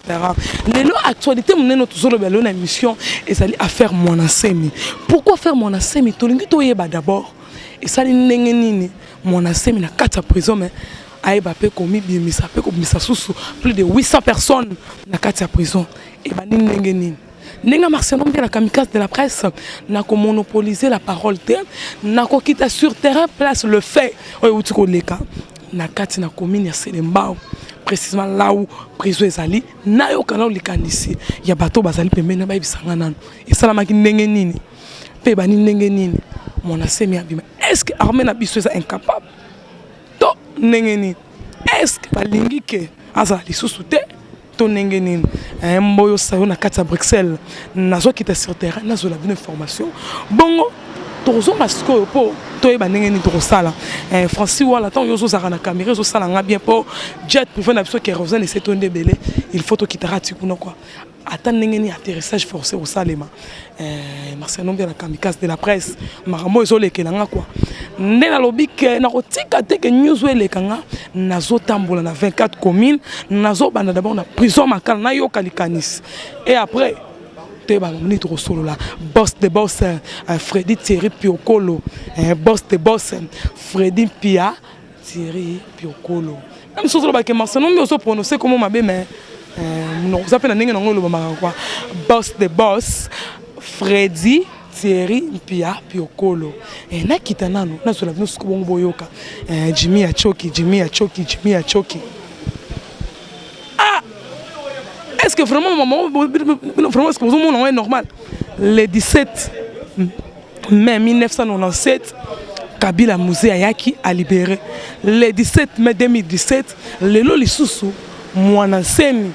Parents. Lelo actualité munene tozoloba lelo na émission ezali affaire mwana semi. Pourquoi faire mwana semi tolingi toyeba d'abord esali ndenge nini mwana semi na kati ya prison mais ayeba pe komibimisa pe kobimisa susu plus de 800 personnes na kati ya prison ebandi ndenge nini ndenge marcelon mpe na kamikaze de la presse na komonopolise la parole te na kokita sur terrain place le fait oyo euti koleka na kati na commune ya selembao précisément là où prison ezali nayoka nao likanisi ya bato bazali pembeni na bayebisa nga nano esalamaki ndenge nini mpe bani ndenge nini mwana semi abima est ce que armée na biso eza incapable to ndenge nini est ce que balingi ke azala lisusu te to ndenge nini eh, mboyo sayo na kati ya bruxelles nazokita sur terrain nazwela bino information bongo tokozonga sikoyo mpo toyeba ndenge nini tokosala eh, francis wala ntango yo ozozalaka na camera ezosala nga bien mpo jet privé na biso kerosene ese to nde ebele il faut tokitaka ti kuna kua ata ndenge nini atterrissage forcé kosalema Eh, Marcel Nombe la kamikaze de la presse makambo ezolekela nga kwa nde nalobi ke nakotika te ke news oyo eleka nga nazotambola na 24 commune nazobanda dabord na prison makala nayoka likanisi e après toyeba nini tokosolola bos de bos eh, fredi thierry piokolo eh, bos de bos fredi mpia Thierry Piokolo. Na miso ozoloba ke Marcelo nde ozo prononcer komo mabe mais euh, munoko za pe na ndenge na ngo elobamaka kwa boss the boss Freddy Thierry Mpia Piokolo eh, nakita nano nazwela bino suku bongo boyoka eh, Jimmy ya choki Jimmy ya choki Jimmy ya choki ah est-ce que vraiment maman vraiment est-ce que vous monde est normal les 17 mai 1997 kabila muse ayaki alibere le 17 mai 2017 lelo lisusu mwana nsemi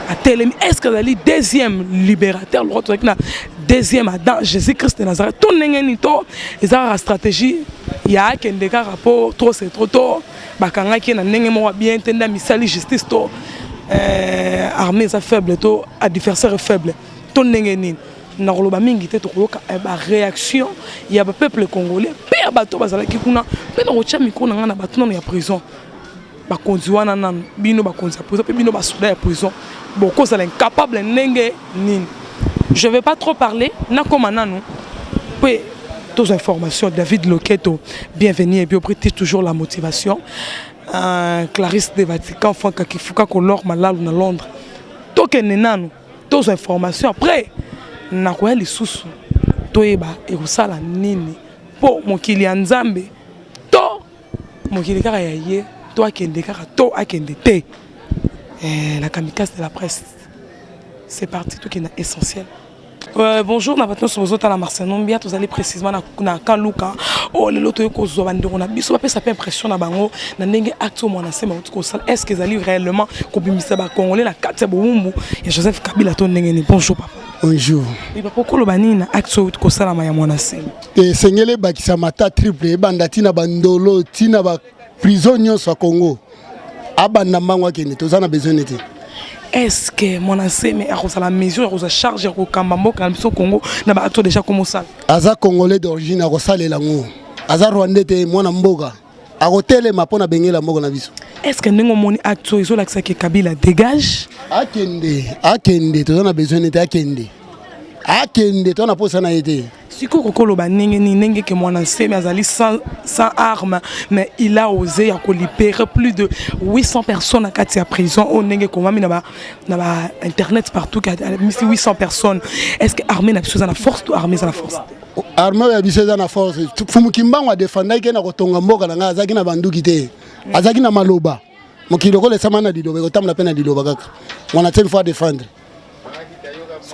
atelemi est-ce que azali deuxième libérateur lokola tozalaki na deuxième adam jésus christ de nazareth to ndenge nini to eza kaka stratégie ya akende kaka mpo trop c'est trop to bakangaki ye na ndenge moko bien te nde amisali justice to euh, armée eza faible to adversaire faible to ndenge nini Nakoloba mingi te tokoyoka eh, ba réaction ya ba peuple congolais mpe ya bato bazalaki kuna mpe nakotya mikro na ngai na bato nano ya prison bakonzi wana nano bino bakonzi ya prison mpe bino basoda ya prison bokozala incapable ndenge nini je vais pas trop parler nakoma nano mpe tous informations david loketo bienvenue et biobriti toujours la motivation euh, clarisse de vatican frank akifuka kolor malalu na londres tokende nano tozwa information après nakoya lisusu toyeba ekosala nini mpo mokili ya nzambe to mokili kaka ya ye to akende kaka to akende te eh, la kamikaze de la presse c'est parti tokenda essentiel Euh, bonjour na bato nyonso bozotala marcel nombia tozali précisement na, na kaluka oyo oh, lelo toyei kozwa bandeko na biso bapesa mpe impression na bango na ndenge acte oyo mwana nsema kosala est ce que ezali réellement kobimisa bacongolais na kati ya bowumbu ya joseph kabila to ndenge nini bonjour papa bonjour papa okoloba nini na acte oyo kosalama ya mwana sele esengeli ebakisama ata triple ebanda ntina bandolo ntina ba prison nyonso ya congo abanda mbango akende toza na besoin nete est ce que mwana nseme akozala mesure ya kozwa charge ya kokamba mboka na biso congo na bato deja komosala aza congolais d'origine akosalela yango aza rwandais te mwana mboka akotelema mpo na bengela moko na biso est-ce que ndenge omoni acte oyo ezolakisa ke kabila dégage akende akende toza na besoin nete akende akende toza na mposa na ye te sikoyo okoki koloba ndenge nini ndenge ke mwana nsemi azali sans, sans arme mais il a osé ya kolibere plus de 800 personnes na kati ya prison oyo ndenge ekomami na bainternet partout amisi 800 personnes est ce que armée na biso eza na force to armée eza na force te arme oyo ya biso eza na force fumu kimbangu adefandaki ye na kotonga mboka na ngai azalaki na banduki te azalaki na maloba mokili lokola esama na liloba ekotambola mpe na liloba kaka mwana te mfo adefendre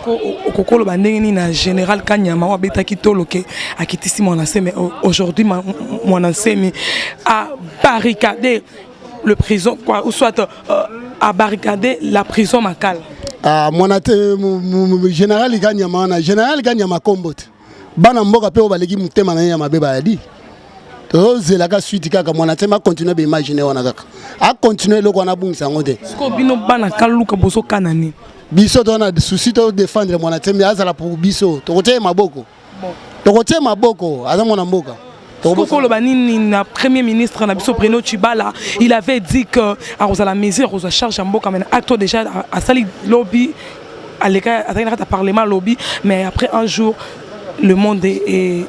okoki koloba ndenge nini na général kanyama oyo abetaki tolo ke akitisi mwana nsemi aujourd'hui mwana nsemi abarricade le prison quoi ou soit euh, à barricader la prison makala ah mwana te général kanyama wana général kanyama kombo te bana mboka mpe oyo baleki motema na ye ya mabe bayadi tozelaka suite kaka mwana te macontinue baimagine wana kaka acontinue eloko wana abungisa yango te sikoyo bino bana kaluka bozokana nini biso tona souci todefendre mwana tembe azala pour biso tokotia ye maboko tokotie maboko aza mwana mboka tokoloba nini na premier ministre na biso Bruno Chibala il avait dit que akozala mesure akozwa charge ya mboka mais acte oyo déjà asali lobi aleka azalaki na kati ya parlement lobi mais après un jour le monde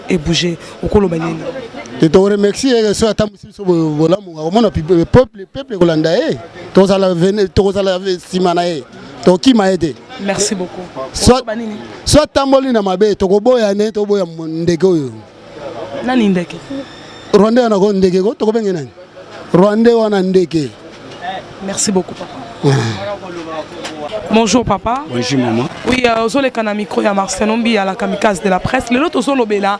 ebouge okoloba nini te toremercie ye soki atambwisi biso bolamu akomona peuple ekolanda ye tokozala nsima na ye tokima ye te merci beaucoup soit banini soit tamboli na mabe tokoboya ne toboya ndeke oyo nani ndeke rwande wana ko ndeke ko tokobenge nani rwande wana ndeke merci beaucoup papa Bonjour papa. Bonjour maman. Oui, euh, ozoleka na micro ya Marcelon Biya la kamikaze de la presse. Lelo tozolobela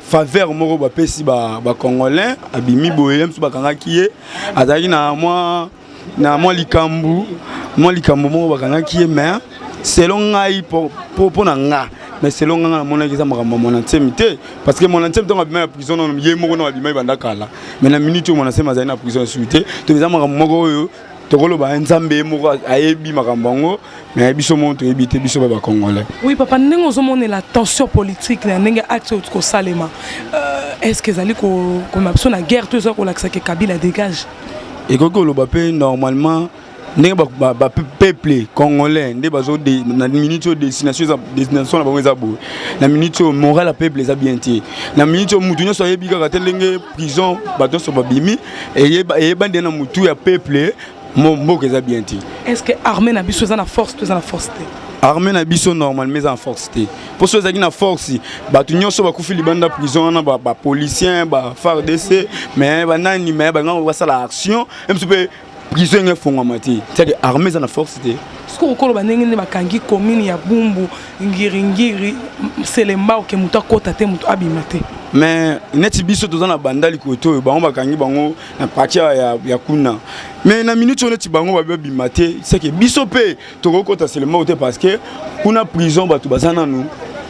faveur moko bapesi bacongolais ba abimi boye ye mosusu bakangaki ye azalaki na mwa na mwa likambo mwa likambo moko bakangaki ye mais selon ngai mpo na nga mais selon nga nga namonaki eza makambo ya mwana nsemi te parce que mwana nsemi ntango abima ya prison nano ye moko nao abima ebanda kala mais na minute oyo mwana nsemi azali na prison esuki te to eza makambo moko oyo tokoloba nzambe ye moko ayebi makambo yango mais biso moko toyebi te biso ba bacongolais oui papa ndenge ozomonela tension politique na ndenge acte oyo kosalema euh, est ce que ezali komema biso na guerre to ezali kolakisa ke kabila dégage ekoki koloba mpe normalement ndenge bapeuple congolais nde bazo na minute oyo destination na bango eza boye na minute oyo moral ya peuple eza bien te na minute oyo motu nyonso ayebi kaka te ndenge prison bato nyonso babimi eyeba nde na motu ya peuple mboka eza bien te est ce que armée na biso eza na force to eza na force te armée na biso normalement eza na force te mpo soki ezalaki na force bato nyonso bakufi libanda prison wana bapolicien bafardc mais banani mais bangango basala action mpe prison enge efongwama te cetadi armée eza na force te sikoyo okoloba ndenge nde bakangi commune ya bumbu ngiringiri selembao ke moto akota te moto abima te mais neti biso toza na bandali kote oyo bango bakangi bango na parti ya, ya kuna mais na minute oyo neti bango babi babima te seke biso mpe tokoki kota selembao te parce que kuna prison bato baza nanu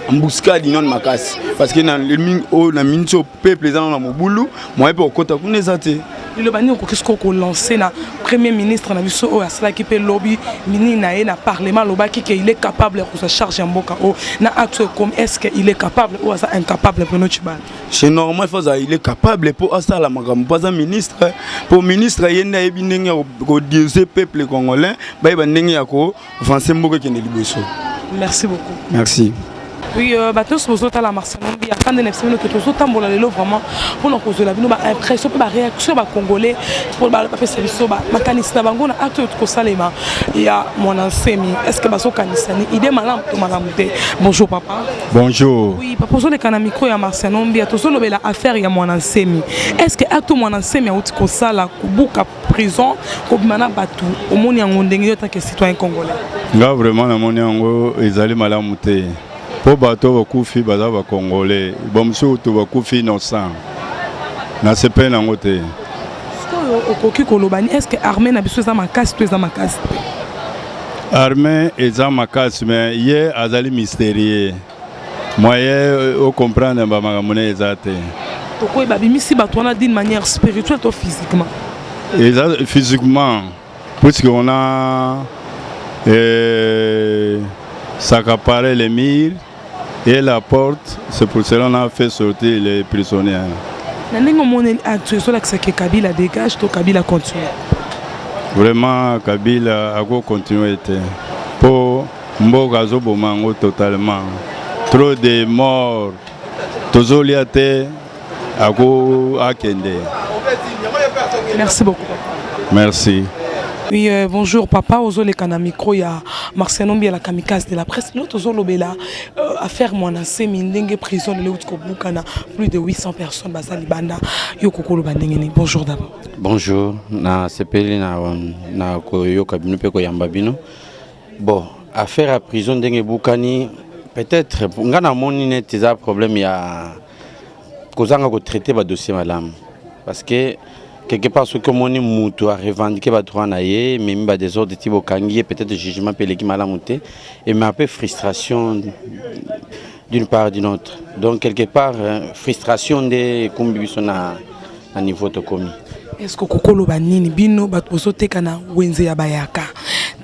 embuscade inone makasi parce que na, na minute oyo peuple eza na mobulu moyen mpe kokota kuna eza te liloba nini okoki sikoyo kolancer na premier ministre na biso oyo asalaki mpe lobi minini na ye na parlement alobaki ke il est capable ya kozwa charge ya mboka oyo na acte oyo ekomi est ce que il est capable oyo aza incapable bruno cibala c'est normal faut azala il est capable mpo asala makambo mpo aza ministre mpo ministre ye nde ayebi ndenge ya kodirige peuple congolais bayeba ndenge ya ko Français mboka ekende liboso. Merci beaucoup. Merci. Oui, euh, bato nyonso bozotala Marcel Mombi ata nde na biso bino ke tozotambola lelo vraiment mpona kozwela bino baimpression mpe baréaction ya bacongolais mpo bapesa biso makanisi na bango na acte oyo tokosalema ya mwana nsemi est ce que bazokanisa ni idée malamu to malamu te bonjour papa bonjour oui papa ozoleka na micro ya Marcel Mombi tozolobela affaire ya mwana nsemi est ce que acte mwana nsemi auti kosala kobuka prison kobima na bato omoni yango ndenge yo take citoyen congolais nga vraiment namoni yango ezali malamu te mpo bato bakufi baza bacongolais bamosusu to bakufi innocent nasepeli nango te sikoyo okoki koloba ni estce armée na biso eza makasi to eza makasi te armée eza makasi me ye azali mysterieux moyen euh, o comprendre ba makambo na eza te tokoyi babimisi bato wana d'une manière spirituelle to physiquement eza physiquement puisque on a euh, s'accaparer les murs et la porte c'est pour cela on a fait sortir les prisonniers na ndenge omoni actu ezolakisa ke kabila dégage to kabila continue vraiment kabila akocontinue te mpo Mboka azo boma yango totalement. Trop de morts. Tozo lia te ako akende. Merci beaucoup. Merci. Oui, euh, bonjour papa, ozoleka na micro ya Marciano Mbiela Kamikaze de la presse. Lelo tozolobela euh, affaire mwana semi ndenge prison lelo uti kobukana plus de 800 personnes baza libanda yo kokoloba ndenge nini. Bonjour d'abord. Bonjour, na sepeli na na koyoka bino mpe koyamba bino. Bon, affaire ya prison ndenge ebukani peut-être nga namoni neti eza problème ya kozanga kotraite badossier malamu parce que quelque part soki omoni mutu arevendike badroit na ye ememi badesordre ti bokangi ye peut-être jugement mpe eleki malamu te ema mpe frustration d'une part d'une autre donc quelque part frustration nde ekumbi biso na na niveau tokomi est-ce que kokoloba nini bino bato bozoteka na wenze ya bayaka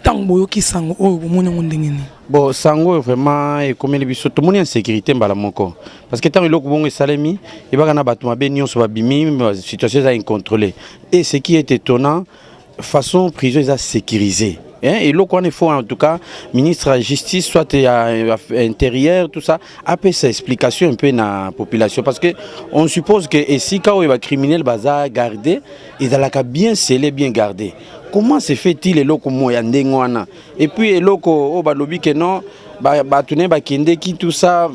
ntango boyoki sango oyo bomoni yango ndenge nini bon sango oyo vraiment ekomeli biso tomoni insécurité mbala moko parce que ntango eloko bongo esalemi ebaka na bato mabe nyonso babimi situation eza incontrôlé et ce qui est étonnant façon prison eza sécurisé hein, eloko wana faut en tout cas ministre ya justice soit ya intérieur tout ça apesa explication mpe na population parce que on suppose que esika oyo bacriminel baza garde ezalaka bien scellé bien garde comment se fait-il eloko mo ya ndenge wana et puis eloko oyo balobi ke non bato ne bakendeki tout ça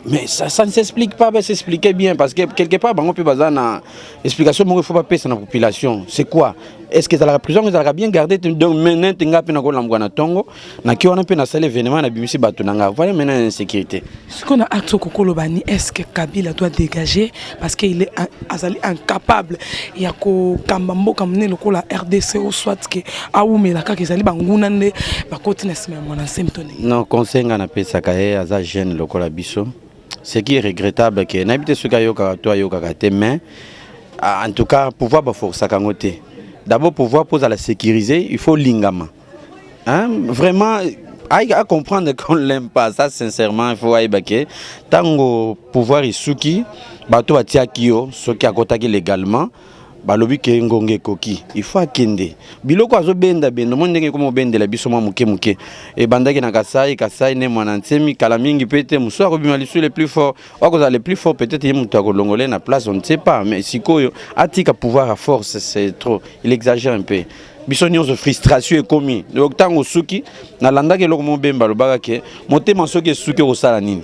mais ça, ça ne s'explique pas, va s'expliquer bien parce que quelque part bango pe baza na explication moko il faut bapesa na population c'est quoi est ce que ezalaka prison yango ezalaka bien garde te donc meninte ngai mpe nakolambwa na ntongo naki wana mpe nasali événement nabimisi bato na ngai voilà maintenant ya insécurité sikoyo na acte okoki koloba ni est ce que kabila doit dégager parce que il est azali incapable ya kokamba mboka monene lokola rdc o soit ke awumela kaka ezali banguna nde bakoti na nsima ya mwana nsemtoni non conseil ngai napesaka ye aza jeune lokola biso ce qui est regrettable que nayebi te soki ayokaka to ayokaka te mais ah, en tout cas pouvoir baforsaka yango te d'abord pouvoir mpo ozala sécurisé il faut lingama hein? vraiment à comprendre qu'on l'aime pas ça sincèrement il faut ayeba ke ntango pouvoir esuki bato batiaki yo soki akotaki légalement Balobi ke ngonga ekoki il faut akende biloko azo benda benda omoni ndenge ekomi obendela biso mwa moke moke ebandaki na kasai kasai ne mwana nsemi kala mingi pe te mosusu akobima lisu le plus fort akozala le plus fort peut-être ye moto akolongole na place on ne sait pas mais sikoyo atika pouvoir à force c'est trop il exagère un peu biso nyonso frustration ekomi donc ntango osuki nalandaki eloko moko bemba alobaka ke motema soki esuki okosala nini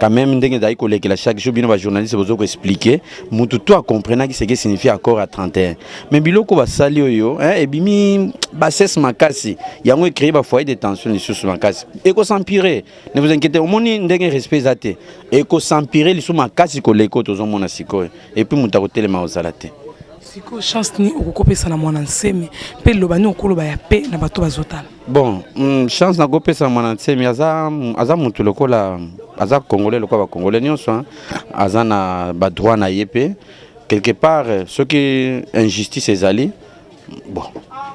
quand même ndenge ezali kolekela chaque jour bino bajournaliste bozo koexplike mutu to acomprenaki seke signifie accord ya 31 mais biloko basali oyo hein, ebimi bassesse makasi yango ecreye bafoyer de tension lisusu makasi ekosampire ne vous inquiétez omoni ndenge respect eza te ekosampire lisusu makasi koleka oyo tozomona sikoyo epuis moto akotelema kozala te sikoyo chance nini okokopesa na mwana nsemi mpe liloba nini okoloba ya pe na bato bazotala Bon, mm, chance nakopesa mwana nsemi aza, aza mutu lokola aza congolais lokola bacongolais nyonso hein. aza na badroit na ye mpe quelque part euh, soki injustice ezali bon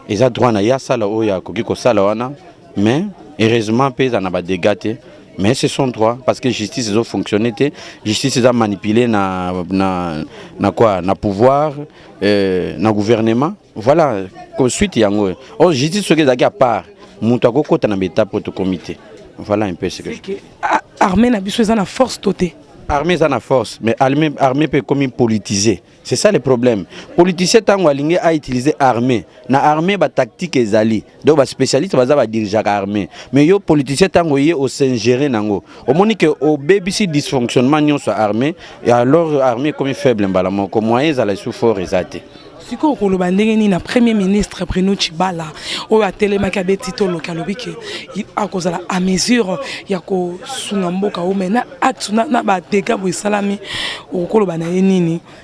eza droit na ye asala oyo akoki kosala wana mais heureusement mpe eza na badega te mais c'est son droit parce que justice ezo fonctionne te justice eza manipule na, na, na quoi na pouvoir euh, na gouvernement Voilà, ko suite yango. Oh, justice soki ezalaki à part, moto akokota na beta poto comité. Voilà un peu ce que. que ah, armée na biso eza na force to te. Armée eza na force, mais armée armée peut comme politiser. C'est ça le problème. Politicien tango alingi a utiliser armée. Na armée ba tactique ezali. donc ba spécialiste baza ba dirigeaka armée mais yo politicien tango ye au s'ingérer nango omoni que obebisi dysfonctionnement nyonso ya armée et alors armée ekomi faible mbala moko moyen ezala lisusu fort eza te sikoyo okoloba ndenge nini na premier ministre bruno chibala oyo atelemaki abeti toloki alobi ke akozala à mesure ya kosunga mboka o mai na acte na badega boye esalami okoloba na ye nini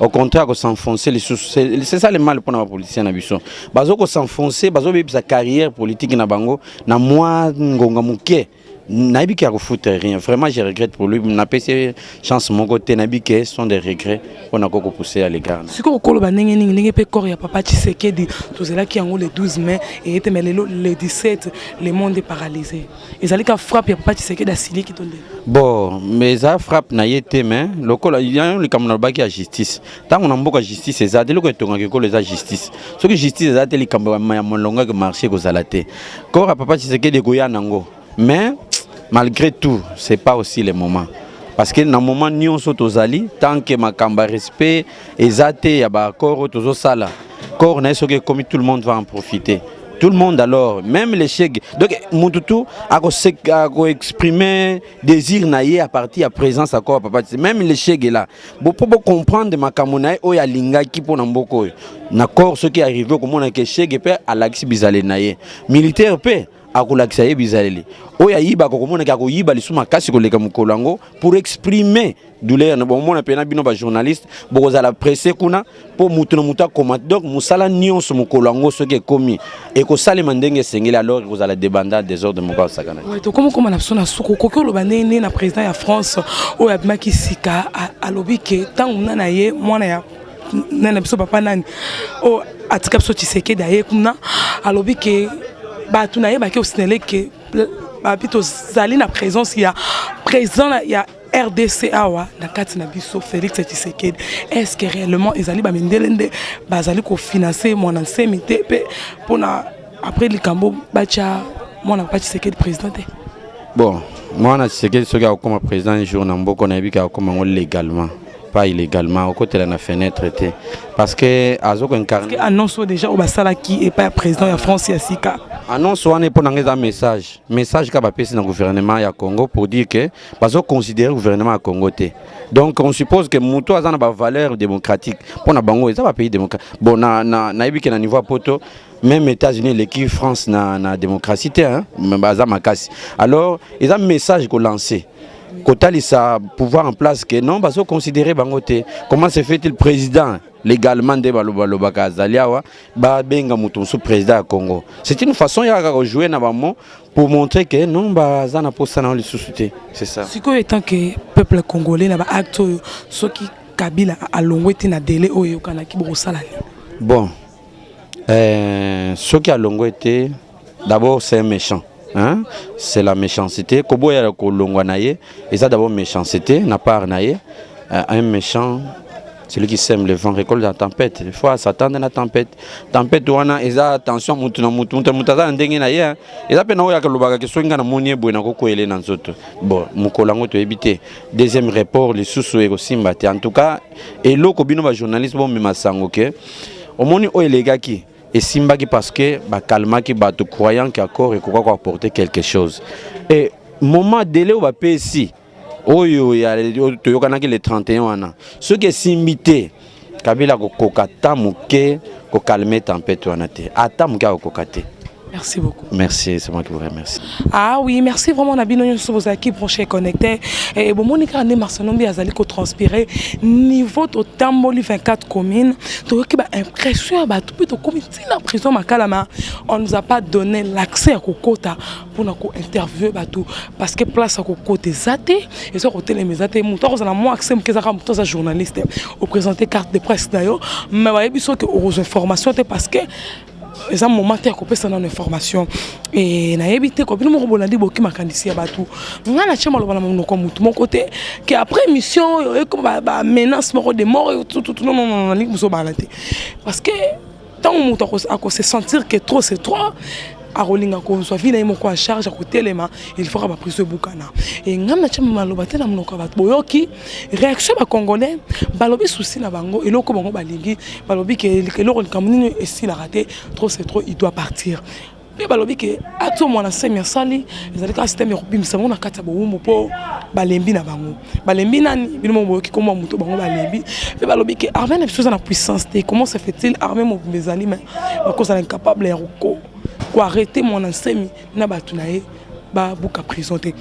au contraire ko s'enfoncer lisusu c'est ça le mal mpona bapoliticien na biso bazo ko s'enfoncer bazobebisa carrière politique na bango na mwa ngonga moke nayebi ke akofuta rien vraiment je regrette pour lui napesi chance moko te nayebi ke sont des regrets mpo na kokopousse ya legard sikoyo koloba ndenge nini ndenge mpe corps ya papa tshisekedi tozelaki yango le 12 mai eye te mai lelo le 17 le monde est paralysé ezali ka frappe ya papa Tshisekedi asiliki to ndenge bon mais eza frappe na ye te mais lokola yango likambo nalobaki ya justice ntango na mboka justice eza te eloko etongaka ekolo eza justice soki justice eza te likambo ya molongo ke marché ekozala te kora papa Tshisekedi ekoya nango mais malgré tout c'est pas aussi le moment parce que na moment nyonso tozali tant que makambo ya respect eza te ya ba accord oyo tozosala corps na ye soki ekomi tout le monde va en profiter tout le monde alors même les chegue donc mutu tu akoexprime désir na ye à partir ya présence ya corps papa même les chegue là bo mpo bocomprendre makambo na ye oyo alingaki mpo na mboka oyo na corps soki arrive okomona ke chegue mpe alakisi bizaleli na ye militaire mpe akolakisa ye bizaleli oyo ayibaka, okomonaki akoyiba lisusu makasi koleka mokolo yango pour exprimer douleur na bomona mpe na bino bajournaliste bokozala presse kuna mpo moto na moto akoma donc mosala nyonso mokolo yango soki ekomi ekosalema ndenge esengeli alors ekozala debanda desordre moko asakana tokomi koma na biso na suku okoki oloba ndenge na président ya france oyo abimaki sika alobi ke ntango mna na ye mwana ya nani na biso papa nani oyo oh, atika biso tshisekedi aye kuna alobi ke bato na ye bake osinele ke babi tozali na présence ya président ya rdc awa na kati na biso félix tshisekedi est ce que réellement ezali bamindele nde bazali kofinanse mwana nsemi te mpe mpona après likambo batya mwana papa tshisekedi président te bon mwana tshisekedi soki akokoma président jour na mboka nayebi ke akokoma yango légalement pas illégalement okotela na fenêtre te parce que azo ko incarner annonce oyo déjà oyo basalaki epai ya président ya france ya sika annonce wana mpo na ngai eza message message kaka bapesi na gouvernement ya congo pour dire que bazo considérer gouvernement ya congo te donc on suppose que moto aza na bavaleur démocratique mpo na bango eza bapays démocratique bon nayebi na, na, ke na niveau ya poto même états-unis eleki france na, na démocratie te hein? baza makasi alors eza message kolancer kotalisa pouvoir en place que non bazo considérer bango te comment se fait-il président légalement nde balobalobaka azali awa babenga moto mosusu président ya congo c'est une façon ya kaka kojoue na bango pour montrer que non baza na mposa na yo lisusu te c'est ça sikoyo etant que peuple congolais na baacte oyo soki kabila alongwe te na délai oyo eyokanaki bokosala nini bon Euh, soki alongwe te d'abord c'est un méchant hein? c'est la méchanceté koboya kolongwa na ye eza d'abord méchanceté na part na ye euh, un méchant celui qui sème le vent récolte la tempête il faut s'attendre na tempête tempête wana eza tension mutu na mutu mutu mutu aza na ndenge na ye hein? eza mpe na oyo akolobaka ke soki ngai namoni ye boye nakokwele na nzoto bon mokolo yango toyebi te deuxième report lisusu ekosimba te en tout cas eloko bino ba journaliste bomema sango ke omoni oyo elekaki esimbaki parce que bakalmaki bato croyant ke accord ekoka koapporte quelque chose e moment dele oyo bapesi oyo toyokanaki le 31 wana soki esimbi te kabila akokoka ata moke kokalme tempete wana te ata moke akokoka te Merci beaucoup. Merci, c'est moi qui vous remercie. Ah oui, merci vraiment na bino nyoso bozalaki branché connecté. Et bon moni kaka nde Marcelombi azali ko transpirer niveau totamboli 24 communes. Toyoki ba impression ya bato mpe tokomi ntina prison makalama. On nous a pas donné l'accès ya kokota mpo na ko interviewer bato parce que place ya kokota eza te eza kotelema eza te moto akozala mwa accès moke ezaka moto aza journaliste opresente carte de presse na yo mais bayebi soki okozwa information te parce que eza moment te ya kopesa nano information e, nayebi te kobino moko bolandi boki makanisi ya bato ngai natya maloba na monoko ya motu moko te ke après émission oyo ekoma bamenace moko de mort tututu nonono nalingi bozobala te parce que ntango moto akose sentir ke trop c'est trop akolinga kozwa vi na ye moko ya charge akotelema il faut ka bapriso ebukana e ngai natya maloba te na monoko ya bato boyoki réaction ba congolais balobi souci na bango eloko bango balingi balobi ke eloko likambo nini esilaka te trop c'est trop il doit partir mpe balobi ke ato mwana semi asali ezali kaka systeme ya kobimisa bango na kati ya bowumbu mpo balembi na bango balembi nani bino mo boyoki komwa moto bango balembi mpe balobi ke armée na biso eza na puissance te comment se fait-il armée mobimba ezali ma bakozala incapable ya koarrete mwana nsemi na bato na ye babuka prison te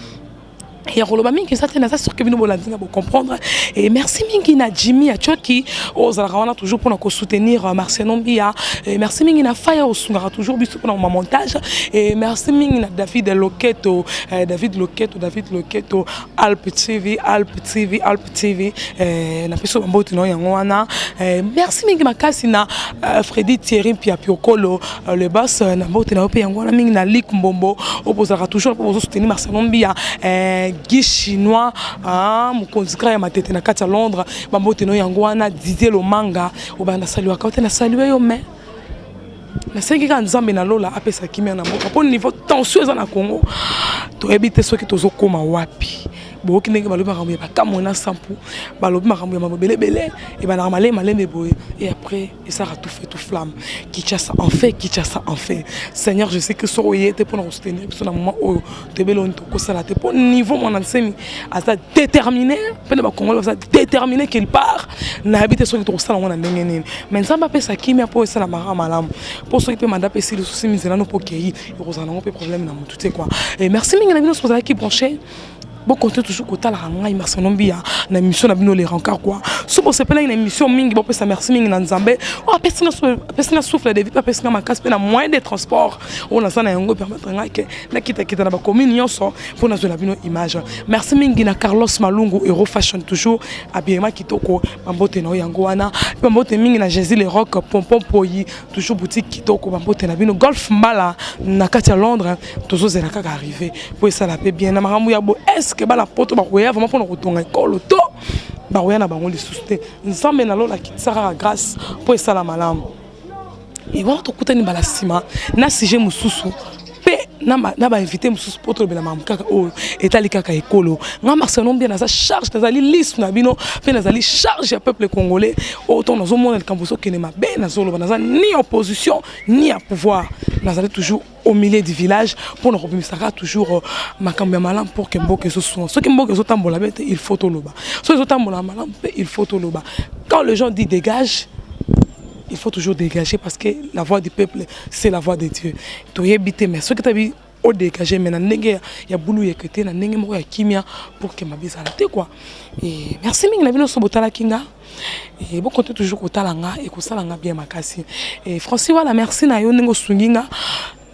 ya koloba mingi eza te naza sur ke bino bolandi nga bocomprendre e merci mingi na jimmy ya coki oyo ozalaka wana toujours mpona kosoutenir euh, marciano mbia e merci mingi na faya osungaka toujours biso mpona ma montage e merci mingi na david loketo eh, david loketo david loketo alp tv alp tv alp TV eh, na peso bambote na yango wana eh, merci mingi makasi na eh, Freddy Thierry Mpia Piokolo eh, le boss eh, na mbote na yo pe yango wana mingi na Lik Mbombo opozalaka toujours po bozo soutenir Marcelo Mbia eh, Guy Chinois ah, mokonzi kaka ya matete na kati ya Londres bambote na yo yango wana Didier Lomanga obanda saluaka ote na salue yo mais nasengi kaka nzambe na lola apesa kimia na mboka mpo niveau tension eza na congo toyebi te soki tozokóma wapi boyoki ndenge balobi makambo ya bakamwe na sampu balobi makambo ya makambo ebelebele ebandaka malei malembe boye et après esaka tout fait tout flamme kinshasa en fait kinshasa en fait seigneur je sais que soki oye te mpo na kosoutenir biso na moment oyo toyebeli oni tokosala te mpo niveau mwana nsemi aza déterminé mpe na bakongole baza déterminé qu'il part nayebi te soki tokosala yango na ndenge nini mais nzambe apesa kimia mpo esala maka malamu mpo soki mpe manda mpe esili sosi mizelano mpo okei ekozala nango mpe problème na motu te quoi et merci mingi na bino soki ozalaki branché Bo compter toujours kotalaka ngai Marcelon Biya na émission na bino les rencarts quoi. So bo sepelaki na émission mingi bo pesa merci mingi na Nzambe. Oh apesi na apesi na souffle de vie pe apesi na makasi pe na moyen de transport. Oyo naza na yango permettre ngai ke nakita kita na ba commune nyonso mpo nazwela bino image. Merci mingi na Carlos Malungu Euro Fashion toujours habillement kitoko bambote na yo yango wana. Pe bambote mingi na Jésus le Rock Pompon Poyi toujours boutique kitoko bambote na bino Golf Mbala na kati ya Londres. tozozela kaka arrive mpo esala mpe bien na makambo ya bo eske bana poto bakoya vraimen mpona kotonga ekolo to bakoya na bango lisusu te nzambe na lola akitisa kaka grâce mpo esala malamu e wana tokutani mbala nsima na sujet mosusu mpe na bainvité mosusu mpo tolobela makambo kaka oyo etali kaka ekolo nga marcelon mbia naza charge nazali liste na bino mpe nazali charge ya peuple congolais oyo ntango nazomona likambo ezokende mabe nazoloba naza ni opposition ni ya pouvoir nazali toujours au milieu du village pour nous rebimisaka toujours euh, makambo ya malamu pour que mboka ezosunga soki mboka ezotambola be te il faut toloba soki ezotambola malamu mpe il faut toloba quand les gens dit dégage il faut toujours dégager parce que la voix du peuple c'est la voix de dieu toyebi te mais soki tabi odégage me na ndenge ya bulu yeke te na ndenge moko ya kimia pour ke mabe ezala te kua merci mingi na bino nyonso botalaki nga Eh, bo compte toujours kotala nga ekosala nga bien makasi eh, francis wala merci na yo ndenge osungi nga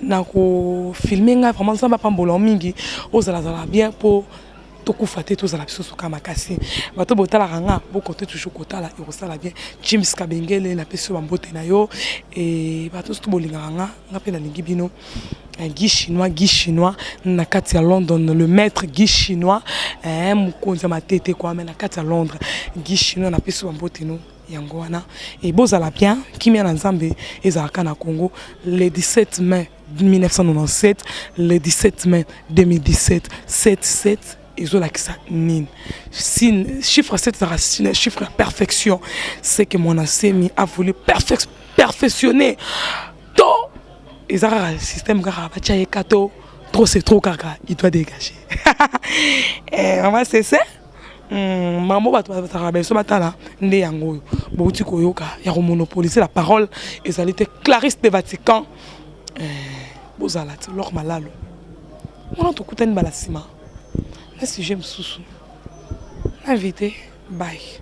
na kofilme ngai vraiment nzambe apambola yo mingi ozalazala bien mpo tokufa te tozala biso suka makasi bato botalaka nga bokonte toujours kotala ekosala bien james kabengele napesi yo bambote na yo eh, bato nyonso to bolingaka nga nga mpe nalingi bino Eh, Guy Chinois, Guy Chinois, na kati ya London, le maître Guy Chinois, eh, mokonzi ya matete kwa, mais na kati ya Londres, Guy Chinois, na pesi bambote no yango wana e bozala bien kimia na nzambe ezalaka na congo le 17 mai 1997 le 17 mai 2017 77 ezolakisa nini chiffre 7 ezalaka chiffre ya perfection c'est que mon asemi a voulu perfectionner to eza kaka système kaka batya ye ka to trop c'est trop kaka il doit dégager eh, mama sese hmm, mambo bato bazalaka biso batala nde yango oyo bouti koyoka ya komonopolise la parole ezali te clarisse de vatican eh, bozala ti lor malalo wana tokutani bala nsima na sujet mosusu na invité bye